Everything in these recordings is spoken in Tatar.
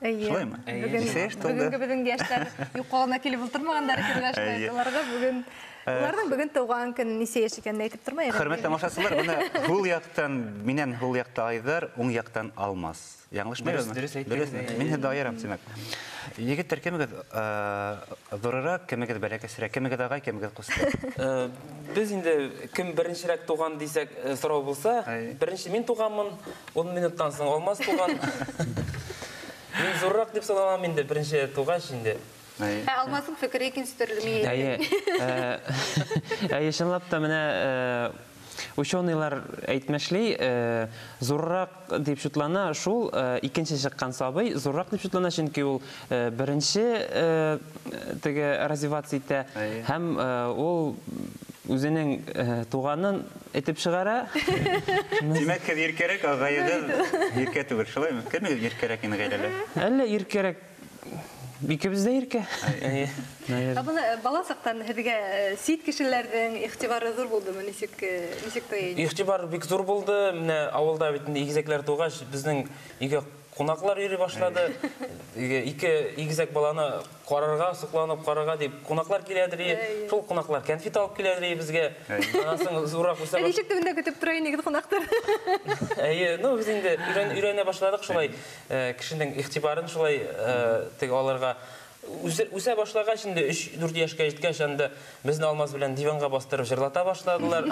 Әйе. Шулаймы? Бүген бүгенге безнең яшьләр юкалына килеп утырмаганнар кергәч, аларга бүген Уларның бүген туган көн ничә яшь икәнен әйтеп тормый. Хөрмәтле тамашачылар, менә һул яктан миннән һул якта Айдар, уң яктан Алмаз. Яңлышмый безме? Дөрес әйттегез. Мин һәдә аерам, димәк. Егеттер кемегез зурырак, кемегез бәләкәсрәк, кемегез агай, кемегез кусты? Без инде кем беренчерәк туган дисәк сорау булса, беренче мин туганмын, ун минуттан соң Алмаз туган. Мин зуррак дип саналам инде беренче тугач инде. Ә Алмазның фикере икенче төрле мин әйтәм. Әйе. Әйе, чынлап та менә ученыйлар әйтмешли, зуррак Дип шутлана шул икенче чыккан сабый, зуррак дип шутлана, чөнки ул беренче теге развиваться итә һәм ул үзенең туганын этеп чыгара. Димәк, сез иркәрәк, ә гаиләдә иркә түгел, шулаймы? Кемегез иркәрәк инде гаиләдә? Әллә иркәрәк Икебез дә иркә. Ә моны бала сактан һезгә сит кешеләрнең игътибары зур булдымы? Ничек ничек той инде? Игътибар бик зур булды. Менә авылда бит инде игезәкләр тугач, безнең өйгә кунаклар йөри башлады. Ике игезәк баланы карарга, сокланып карарга дип кунаклар киләдер. Шул кунаклар кәнфит алып киләдер өебезгә. Аннан соң зуррак үсә башлады. Ә ничек төбендә көтеп тора инегез кунаклар? Әйе, ну без инде өйрәнә башладык шулай. Э, кешенең игътибарын шулай э, теге алырга үсә башлагач инде 3-4 яшькә җиткәч анда безне алмаз белән диванга бастырып җырлата башладылар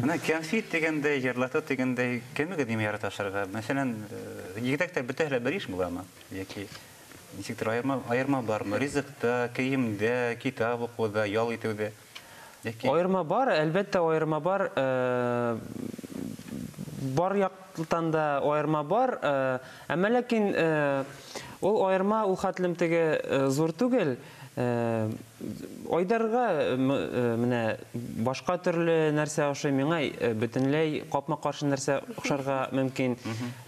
менә кәнфит дигәндәй җырлату дигәндәй кемегез дим ярата ашарга мәсәлән э, егетәктә бөтә һәлә бер еш буламы яки ничектер аерма аерма бармы ризыкта киемдә китап укуда ял итүдә Аерма бар, әлбәттә аерма бар. Бар яктан да аерма бар. Әмма ләкин ул аерма ул хәтлем теге зур түгел. Айдарга менә башка төрле нәрсә ошый, миңа бөтенләй капма-каршы нәрсә ошарга мөмкин.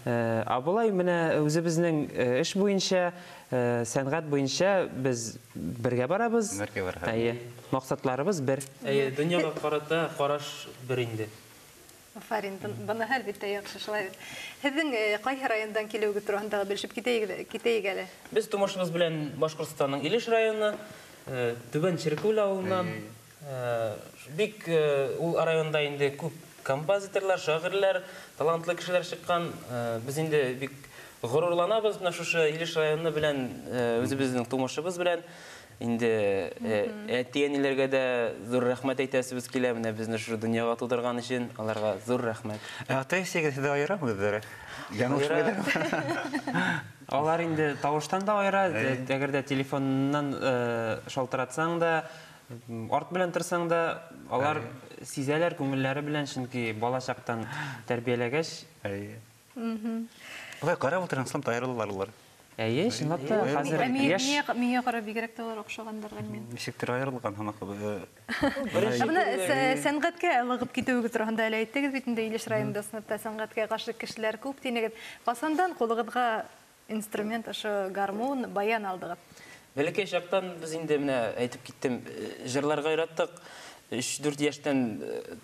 Ә болай менә үзебезнең эш буенча Сәнгать буенча без бергә барабыз. Бергә барабыз. Әйе. Максатларыбыз бер. Әйе, дөньяга карата караш бер инде. Афарин, моныһы әлбиттә яхшы шулай бит. Һезнең кайһы райондан килүегез турында да белешеп китәйек әле. Без тумышыбыз белән Башкортстанның Илеш районы, Түбән Черкүл авылыннан. Бик ул районда инде күп композиторлар, шагыйрьләр, талантлы кешеләр чыккан. Без инде бик горурланабыз менә шушы Илеш районы белән, үзебезнең тумышыбыз белән. Инде әти-әниләргә дә зур рәхмәт әйтәсебез килә, менә безне шушы дөньяга тудырган өчен, аларга зур рәхмәт. Ә ата-әсәгез сезне аерамы үзләре? Алар инде тавыштан да аера, әгәр дә телефоннан шалтыратсаң да, Арт белән торсаң да, алар сизәләр күңелләре белән, чөнки бала чактан тәрбияләгәч. Әйе. Болай карап утырам, сылтам аерылалар алар. Әйе, чынлап та, хәзер яшь. Миңа, миңа карап бигрәк тә алар охшагандыр, Гөлмир. Ничектер аерылган һымак. Менә сәнгатькә ылыгып китүегез турында әле әйттегез бит инде, Илеш районында сынапта сәнгатькә гашыйк кешеләр күп дидегез. Касандан кулыгызга Инструмент ошо гармун, баян алдыгыз. Бәләкәй чактан без инде менә әйтеп киттем, җырларга яраттык. 3-4 яшьтән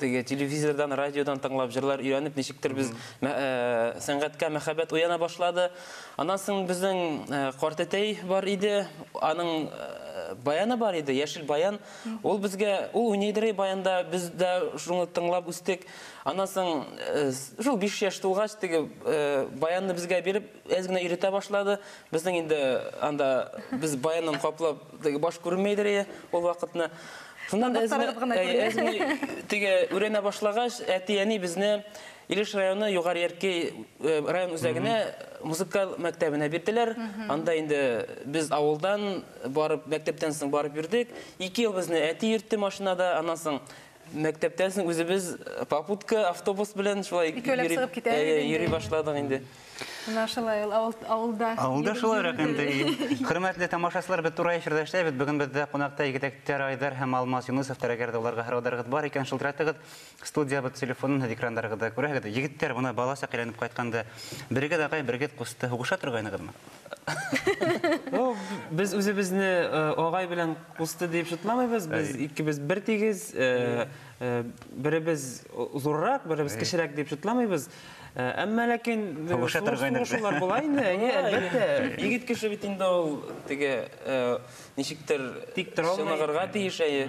теге телевизордан, радиодан тыңлап җырлар өйрәнеп, ничектер без сәнгатькә мәхәббәт уяна башлады. Аннан соң безнең картәтәй бар иде, аның баяны бар иде, яшел баян. Ул безгә, ул уйныйдыр баянда, без дә шуны тыңлап үстек. Аннан соң, шул биш яшь тулгач, теге баянны безгә биреп, әз генә өйрәтә башлады. Безнең инде анда без баяннан каплап, теге баш күренмәйдер иде ул вакытны. Шуннан әз генә теге үрәнә башлагач, әти-әни безне Илеш районы Югары Ярки район үзәгенә музыкаль мәктәбенә бирделәр. Анда инде без авылдан барып, мәктәптән соң барып йөрдек. Ике ел безне әти йөртте машинада, аннан соң Мәктәптән соң үзебез попутка, автобус белән шулай Икәүләп йөри- чыгып китә Әйе, идең йөри инде. башладык инде. Менә шулай ул авыл, авылда. Авылда йөреп шулайрак инде. йөрде. Хөрмәтле тамашачылар, без турай эфирдә эшләбез. Бүген бездә кунакта егетәктәр Айдар һәм Алмаз Юнысовтар. Әгәр дә аларга сорауларыгыз бар икән, шылтыратыгыз. Студиябез телефонын һез экраннарыгызда күрәһегез. Егетләр, менә балачак әйләнеп кайтканда, берегез агай, берегез кусты. Һугыша торгайныгызмы? Ну, без үзебезне э, агай белән кусты дип шутламыйбыз. Без икебез бер тигез, э, э, беребез зуррак, беребез кечерәк дип шутламыйбыз. Э, Әмма ләкин э, Һаваша сугыш торган инде. сугышулар була инде, әйе, әлбәттә. Егет кеше бит инде ул теге э, ничектер Тик тора алмый. чыныгырга тиеш әйе.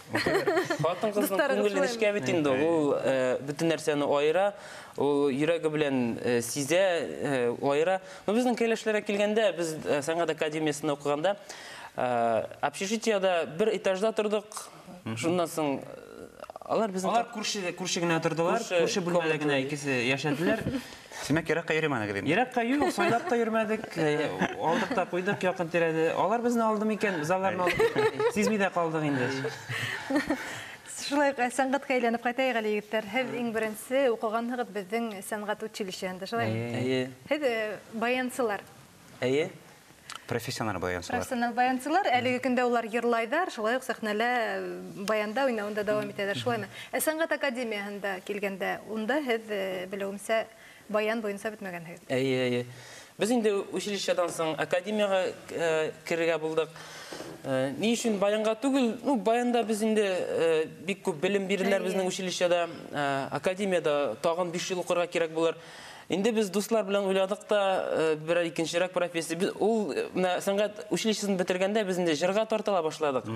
Хатын кызның күңелен эшкә бит инде ул э, бөтен нәрсәне аера, ул йөрәге белән э, сизә, э, аера. Но безнең кәләшләргә килгәндә, без сәнгать академиясендә укыганда, общежитиеда бер этажда тордык. Шуннан соң алар безнең Алар күрше күрше генә тордылар, күрше бүлмәдә генә икесе яшәделәр. Димәк, еракка йөремәдегез инде. Еракка юк, сайлап та йөрмәдек. Э, алдык та куйдык якын тирәдә. Алар безне алды микән? Залларны алдык. Сизми дә калдык инде. Шулай э, сәнгатькә әйләнеп кайтайык әле, егетләр. Һез иң беренче укыганһыгыз безнең сәнгать училищеһендә, шулай? Әйе. Һез э, баянсылар. Әйе, профессиональ баянчылар. Профессиональ баянчылар, әлеге көндә улар йырлайдар, шулай ук сәхнәлә баянда уйнавында дәвам итәләр, шулаймы? Ә сәнгать академияһендә килгәндә, унда һез, белүемчә, баян буенча бетмәгәнһегез. Әйе, әйе. Без инде училищедан соң академияга керергә булдык. Ни өчен баянга түгел? Ну, баянда без инде бик күп белем бирделәр безнең училищеда. Академиядә тагын биш ел укырга кирәк булыр. Инде без дуслар белән уйладык та, э, берәр икенчерәк профессия. Без ул э, менә сәнгать училищесын бетергәндә без инде җырга тартыла башладык.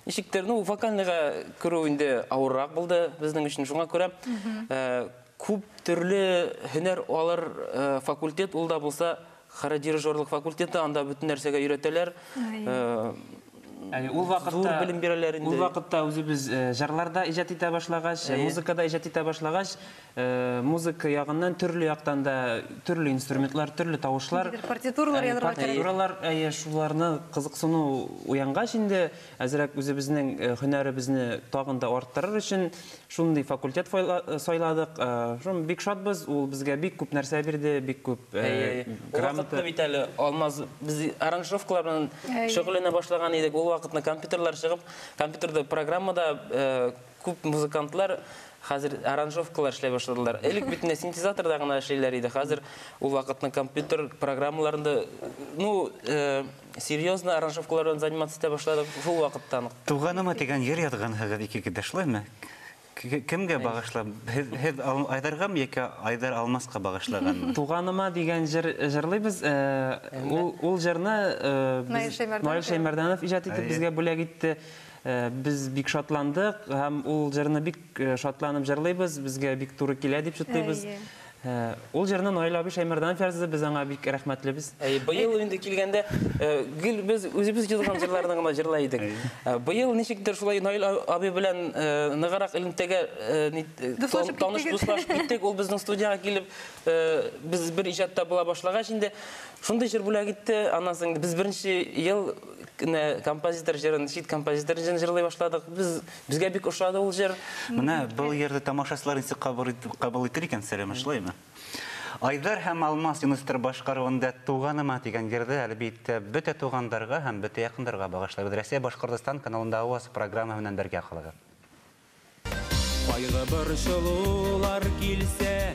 Ничектер, ну, вокальныйга керү инде авыррак булды безнең өчен. Шуңа күрә э, күп төрле һөнәр алыр э, факультет ул да булса Хородирижерлык факультеты, анда бөтен нәрсәгә өйрәтәләр. Ул вакытта зур белем бирәләр инде. Ул вакытта үзебез җырларда иҗат итә башлагач, музыкада иҗат итә башлагач, музыка ягыннан төрле яктан да төрле инструментлар, төрле тавышлар, партитуралар язарга кирәк. Партитуралар, әйе, шуларны кызыксыну уянгач инде, Әзрәк үзебезнең һөнәребезне тагын да арттырыр өчен шундый факультет сайладык. Шуны бик шатбыз, ул безгә бик күп нәрсә бирде, бик күп грамота. Бит әле Алмаз, без аранжировкалар белән шөгыльләнә башлаган идек, ул вакытны компьютерлар чыгып, компьютерда программада күп музыкантлар хәзер аранжировкалар эшләй башладылар. Элек бит менә синтезаторда гына эшлиләр иде, хәзер ул вакытны компьютер программаларында, ну, серьезно аранжировкалар белән заниматься итә башладык шул вакыттан ук. Туганыма дигән җыр язгансыгыз ике китә, шулаймы? Кемгә багышлап? Һез Айдаргамы яки Айдар Алмаска багышлаганмы? Туганыма дигән җыр җырлыйбыз. Ул җырны Наил Шәймәрданов иҗат итеп безгә бүләк итте. Без бик шатландык һәм ул җырны бик шатланып җырлыйбыз, безгә бик туры килә дип җытлыйбыз. Һә, ул җырны Наил абый Шәймәрданов язды, без аңа бик рәхмәтлебез. Әй, быел инде килгәндә, э, гел без үзебез язган җырларны гына җырлый идек. Э, быел ничектер шулай Наил абый белән э, ныграк элемтәгә э, э таныш дуслашып киттек. Ул безнең студиягә килеп, э, без бер иҗатта була башлагач инде шундый җыр бүләк итте. Аннан соң без беренче ел композитор җырын, чит композитор җырын җырлый башладык. Без Безгә бик ошады ул җыр. Менә был йырды тамашачылар ничек кабул итер икән, Сәлимә, шулаймы? Айдар һәм Алмаз Юныстыр башкаруында Туганыма дигән йырды, әлбиттә, бөтә тугандарга һәм бөтә якындарга багышлыйбыз. Россия Башкортостан каналында Аваз программаһы белән бергә калыгыз. Кайгы борчылулар килсә.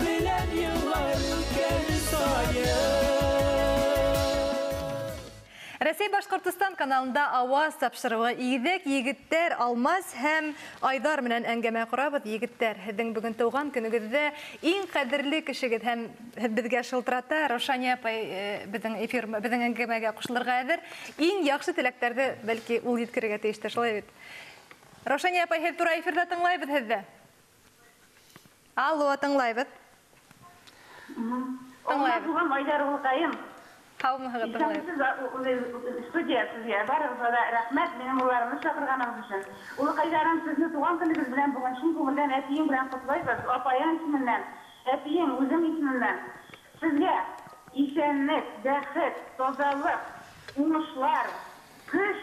Белән еллар үткән саен. Рәсәй Башкортостан каналында Аваз тапшыруы Игедәк егеттәр Алмаз һәм Айдар менән әңгәмә корабыз Егеттәр, һездең бүген туган көнегездә иң кадерле кешегез һәм һедбезгә шылтырата Раушания апай э, безнең эфир безнең әңгәмәгә кушылырга әзер Иң яхшы теләктәрде бәлки ул җиткерергә тиештер, шулай бит? Раушания апай, һез тура эфирда тыңлайбыз һезде. Алло, тыңлайбыз. Тыңлайбыз. Туган Айдар улкаем. Саумыһыгыз, тыңлайбыз. Исәнмесез, студия сезгә, барыгызга да рәхмәт, минем улларымны чакырганыгыз өчен. Улыкайларым, сезне туган көнегез белән бүген чын күңелдән әтиең белән котлыйбыз, апаең исеменнән, әтиең, үзең исемемнән. Сезгә исәнлек, бәхет, тазалык, уңышлар, көч!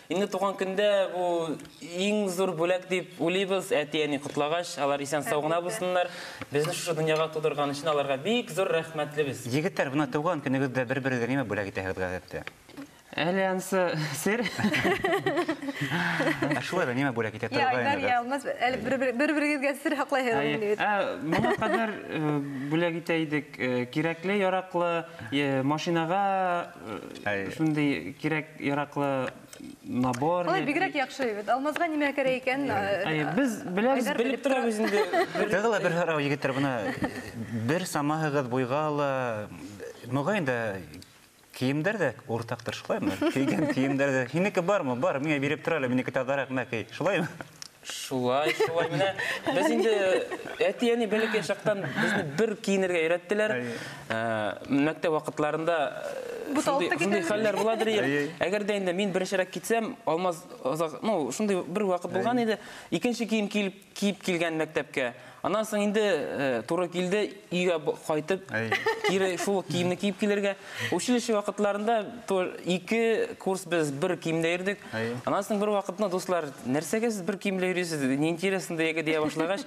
Инде туган көндә бу иң зур бүләк дип уйлыйбыз. Әти-әни котлагач, алар исән-сау гына булсыннар. Безне шушы дөньяга тудырган өчен аларга бик зур рәхмәтлебез. Егетләр, менә туган көнегездә бер-берегезгә нимә бүләк итәһегез гадәттә? Әле ансы сер. Ә шулай да нимә бүләк итә торгайныгыз? Йә, Айдар, йә, Алмаз, әле бер-берегезгә сер саклайһыгызмыни бит? Ә, моңа кадәр бүләк итә идек. Кирәкле-яраклы машинага э, шундый кирәк яраклы набор. Алай бигрәк яхшы бит. Алмазга нимә кирәк икән? Әй, э, без беләбез, белеп торабыз инде. Тагыла бер һарау егетләр буна бер самаһыгыз буйга ала. Мөгаен дә киемдер дә уртактыр, шулаймы? Кийгән киемдер дә. Һинеке бармы? Бар, миңа биреп тора әле, минеке тазарак, мә кей. Шулаймы? Шулай, шулай менә. Без инде әти-әни бәләкәй чактан безне бер киенергә өйрәттеләр. Ә, Мәктәп вакытларында Бу шундый тавыкта шундый китәме? хәлләр буладыр. Әй, әй. Әгәр дә инде мин беренчерәк китсәм, Алмаз озак, ну, шундый бер вакыт булган иде. Икенче кием киеп киеп килгән мәктәпкә. Аннан соң инде туры килде өйгә кайтып, кире шул киемне киеп килергә. Училище вакытларында ике курс без бер киемдә йөрдек. Аннан соң бер вакытны дуслар, нәрсәгә сез бер киемдә йөрисез? Не интересно дияге дия башлагач,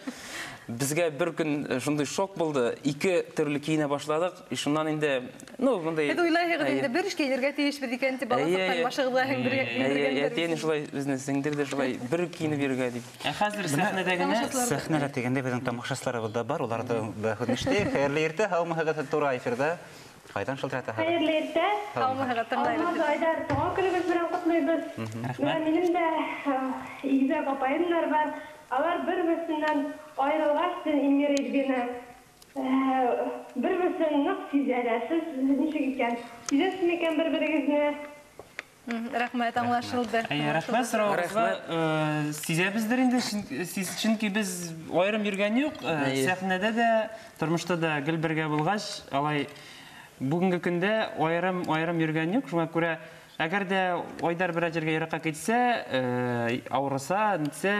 безгә бер көн шундый шок булды. Ике төрле киенә башладык. И шуннан инде, ну, мондый... Һез уйлайһыгыз инде, бер эшкә инергә тиешбез икән, дип, бала саткан башыгызга һәм бер инергәндер. Әти әни шулай безне сеңдерде, шулай бер киенеп йөрергә дип. Ә хәзер сәхнәдә генә... Сәхнәдә дигәндә безнең тамашачыларыбыз да бар, улар да күренештә. Хәерле иртә, һаумыһыгыз, туры эфирда. Кайдан шылтыратаһыгыз? Хәерле иртә. Һаумыһыгыз, тыңлыйбыз. Алмаз, Айдар, туган көнегез белән котлыйбыз. Менә минем дә игезәк апаемнар бар. Алар бер-берсеннән аерылгач, син, Ингер Ильвина, Бер-берсен нык сизә дә. Сез ничек икән? Сизәсез микән бер-берегезне? Рәхмәт, аңлашылды. Әйе, рәхмәт соравыгызга. Сизәбездер инде, чөнки без аерым йөргән юк. Сәхнәдә дә, тормышта да гел бергә булгач, алай бүгенге көндә аерым-аерым йөргән юк. Шуңа күрә, әгәр дә Айдар берәр җиргә еракка китсә, авырыса, нитсә,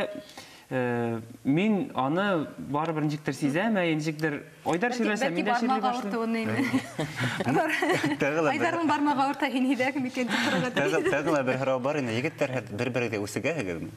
Мин аны барыбер ничектер сизәм, ә ничектер Айдар сөйләсә, мин дә сөйли башлыйм. Айдарның бармагы авырта инедәк микән дип торырга тиеш. Тагын да бер һорау бар инде. Егетләр бер-берегезгә үсегәһегезме?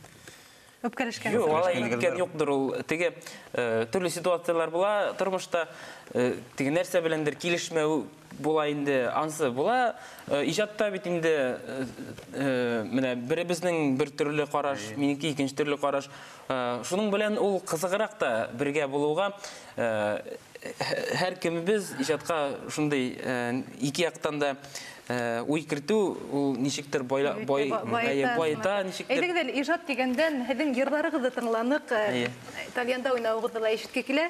Үпкәләшкән. Юк, алай иткән юктыр ул. Теге төрле ситуацияләр була тормышта. Теге нәрсә беләндер килешмәү Була инде, ансы була. Э, иҗатта бит инде э, э, менә беребезнең бер төрле караш, минеке икенче төрле караш. Шуның белән ул кызыграк та бергә булуга һәр кемебез иҗатка шундый ике яктан да уй кертү ул ничектер байла, бай, байта ничектер. Әйдәгез әле иҗат дигәндән һезнең җырларыгызды тыңланык. Тальянда уйнавыгызны ла ишетке килә.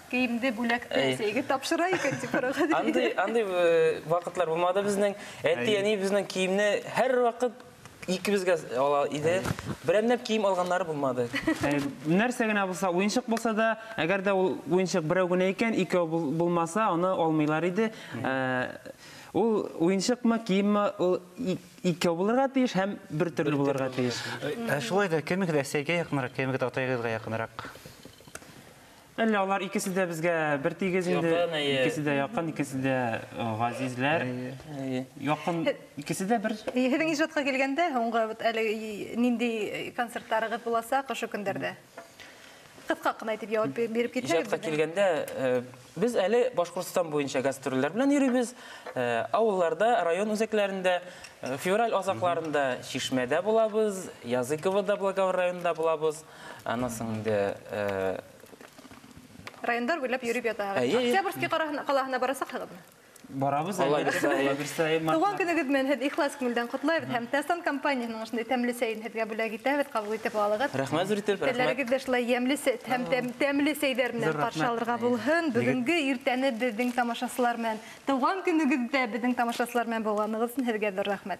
Кейемде бүләкте әтиегә тапшыра икән дип карарга да. Андый, андый э, вакытлар булмады безнең. Әти, әни безнең киемне һәр вакыт икебезгә ала иде. Берәмләп кием алганнары булмады. Ә, нәрсә генә булса, уенчык булса да, әгәр дә ул уенчык берәү генә икән, икәү бул- булмаса, аны алмыйлар иде. Ә, Ул уенчыкмы, киемме, ул и- икәү булырга тиеш һәм бер төрле булырга тиеш. Ә шулай да кемегез Әсәйгә якынрак, кемегез атайыгызга якынрак? Әллә алар икесе дә безгә бертигез инде? Якын, әйе. Икесе дә якын, икесе дә э, газизләр. Әйе. Якын икесе дә бер. Һезнең иҗатка килгәндә, һуңгы вот әле нинди концертларыгыз буласак ошо көндәрдә? Кыска кына итеп җавап бе- биреп китсәгез. Иҗатка безнең. килгәндә, э, без әле Башкортстан буенча гастрольләр белән йөрибез. Э, Авылларда, район үзәкләрендә, э, февраль азакларында Чишмәдә булабыз, Языковода, Благовар районында булабыз. Аннан соң инде райондар буйлап йөреп ятагыз. Әйе, әйе. Октябрьский кара- калаһына барасак хагыдмы? барабыз әле. Алла бирса, Алла бирса, әй, март- Туган көнегез белән һез ихлас күңелдән котлайбыз һәм Тәстан компаниясенең шундый тәмле сәен һезгә бүләк итәбез, кабул итеп алыгыз. Рәхмәт зур итеп, рәхмәт. Телләрегез дә шулай ямьле сә- һәм тәм- тәмле сәйләр белән Зур рәхмәт. каршы алырга булһын. Бүгенге иртәне безнең тамашачылар белән, туган көнегездә безнең тамашачылар белән булганыгыз өчен һезгә зур рәхмәт.